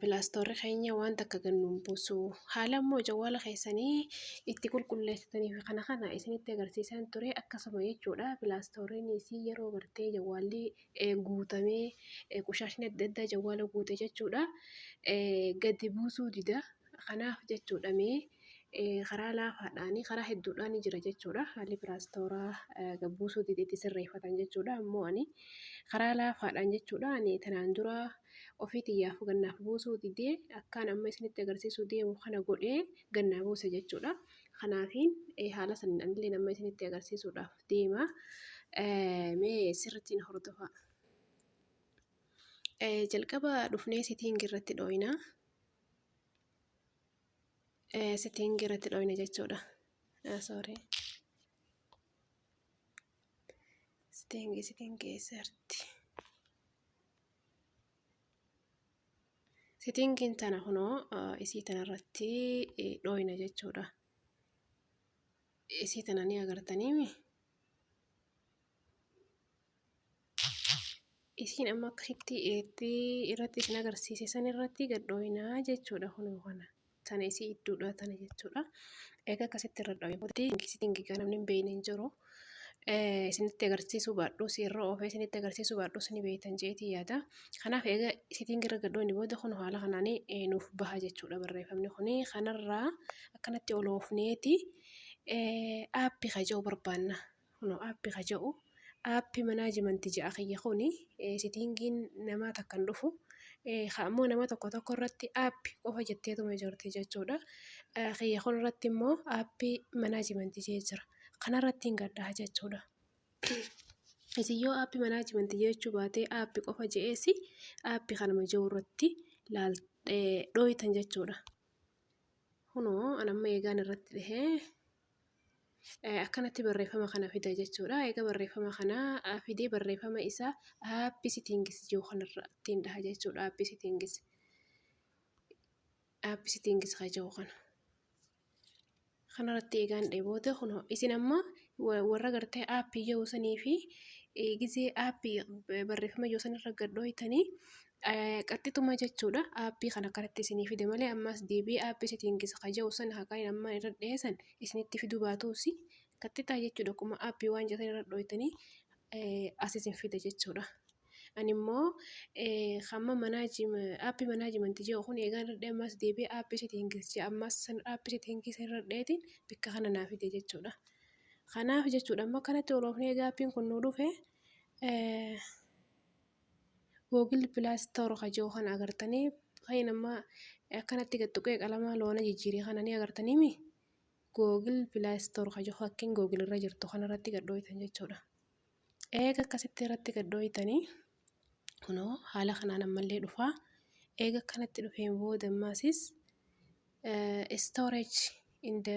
Pilaastorri keenya waan takka gad nuun buusu. Haala immoo jawwaala keessanii itti qulqulleessitanii fi kana kana isinitti agarsiisaan ture akkasuma jechuudha. Pilaastorriinis yeroo gartee jawwaalli guutamee qushaashni adda addaa jawwaala guute jechuudha gadi buusuu dida. Kanaaf jechuudha mee karaa laafaadhaan karaa hedduudhaan jira jechuudha haalli piraastooraa gabbuusuu dide itti sirreeffatan jechuudha ammoo ani karaa laafaadhaan jechuudha ani tanaan dura ofii tiyyaaf gannaaf buusuu didee akkaan amma isinitti agarsiisuu deemu kana godhee gannaa buuse jechuudha kanaafiin haala saniin anillee nama isinitti agarsiisuudhaaf deema mee sirriitti na hordofaa. Jalqaba dhufnee sitiingi irratti dhooyinaa. setting irratti dhoyne jechuudha. Sorry. Setting setting keessatti. Settingin tana kunoo isii tanarratti dhoyna jechuudha. Isii tana ni agartaniimi. Isiin amma akkasitti eetti irratti isin agarsiise san irratti gad dhooyinaa jechuudha kunoo kana. Tana isii idduudha tana jechuudha. Egaa akkasitti irra dhooyee booda isitti hin gigaa namni hin beekne hin jiru. Isinitti agarsiisuu baadhuus irra oofee isinitti agarsiisuu baadhuus ni beektan jeetii yaada. Kanaaf egaa isitiin irra gad dhooyne booda kunoo haala kanaan nuuf baha jechuudha barreeffamni kuni. Kanarraa akkanatti ol oofneeti aappi kaja'uu barbaanna. Kunoo app ka ja'u app management ja'a kiyya kuni sittingiin namaa takka hin dhufu ka ammoo nama tokko tokko irratti app qofa jetteetuma jirti jechuudha kiyya kun irratti immoo app management jee jira kana irratti hin gadhaa jechuudha isin yoo app management jechuu baatee app qofa je'eesi app kanuma jiru irratti laal dhooytan jechuudha kunoo an amma eegaan irratti dhihee akkanatti barreeffama kana fida jechuudha. Egaa barreeffama kana fidee barreeffama isa aappi sitiingis jiru kanarra ittiin dhaha jechuudha. Aappi sitiingis aappi sitiingis kan jiru kana. Kanarratti eegaan dhee booda kun isin amma warra gartee aappi yoo sanii fi gizee aappi barreeffama yoo sanirra gad dhooytanii Qaxxituma jechuudha aappii kan akkanatti isinii fide malee ammaas deebi'ee aappii seetiingis ka jedhu san haqaa hin ammaan irra dhihee san isinitti fiduu baatuusi qaxxitaa jechuudha akkuma aappii waan jedhan irra dhooytanii as isin fida jechuudha. Ani immoo hamma aappii manaajimanti jedhu kun eegaan irra dhihee ammaas deebi'ee aappii seetiingis jedha ammaas san aappii seetiingis irra dhiheetiin bakka kana naa fide jechuudha. Kanaaf jechuudha amma kanatti oloofnee egaa aappiin kun nuu dhufe. Google play store ka jiru kana agartanii kan amma akkanatti gad tuqee qalama loona jijjiire kana ni agartanii mi Google play store ka jiru fakkiin Google irra jirtu kana irratti gad dhooytan jechuudha. Eega akkasitti irratti gad dhooytanii kunoo haala kanaan ammallee dhufaa eega akkanatti dhufeen booda ammaasis storage in the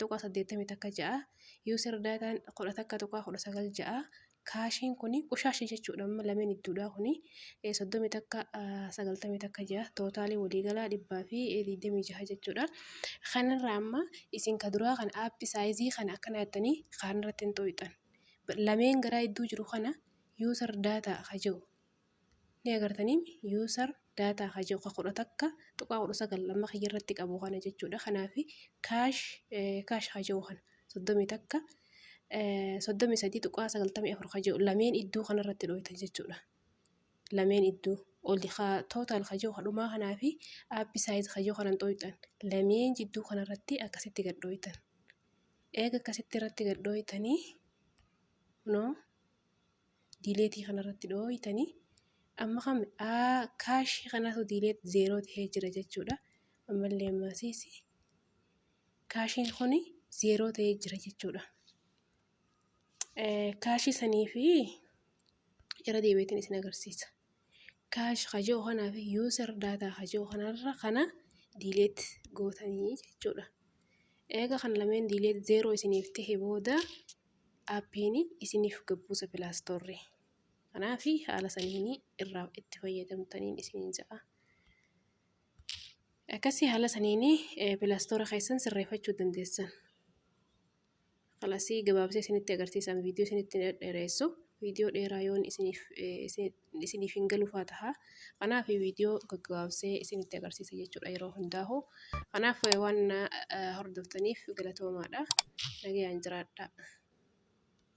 tuqaa saddeettamii takka ja'a user daataan kudha takka tuqaa kudha sagal ja'a kaashiin kun qushaasha jechuudha amma lameen idduudhaa kun soddomii takka sagaltamii takka ja'a tootaalii waliigalaa dhibbaa fi digdamii jaha jechuudha kanarraa amma isin ka duraa kan aappi saayizii kana akkana jettanii kaanirratti hin xooyxan lameen garaa idduu jiru kana user daataa ka jiru Ni agartaniim user data ka jedhu ka 11.19 amma kiyya irratti qabu kana jechuudha. Kanaaf cash cash ka jedhu kana 31 33.94 ka jedhu lameen idduu kana irratti dhooytan jechuudha. Lameen idduu oli ka total ka jedhu kadhumaa kanaa fi app size ka jedhu kanan dhooytan lameen jidduu kana irratti akkasitti gad dhooytan. Eega akkasitti irratti gad dhooytanii kunoo. diileetii kana irratti dhooytanii amma kam kaashii kanatu diileet zeeroo ta'ee jira jechuudha. Ammallee ammaasiis kaashiin kun zeeroo ta'ee jira jechuudha. Kaashii sanii fi irra deebiitiin isin agarsiisa. Kaash hajoo kanaa fi yuusar daataa hajoo kanarra kana diileet gootanii jechuudha. Eega kan lameen diileet zeeroo isiniif ta'e booda Aappiini isiniif gabbuusa pilaastorri kanaafi haala saniini irraa itti fayyadamtaniin isiniin ja'a. Akkasii haala saniini pilaastora keessan sirreefachuu dandeessan. Kalasii gabaabsee isinitti agarsiisaan viidiyoo isinitti dhadheeressu viidiyoo dheeraa yoon isiniif isin. isiniif hin galufaa taha. Kanaaf viidiyoo gaggabaabsee isinitti agarsiisa jechuudha yeroo hundaahu. Kanaaf waan na hordoftaniif galatoomaadha. Nagayaan jiraadhaa.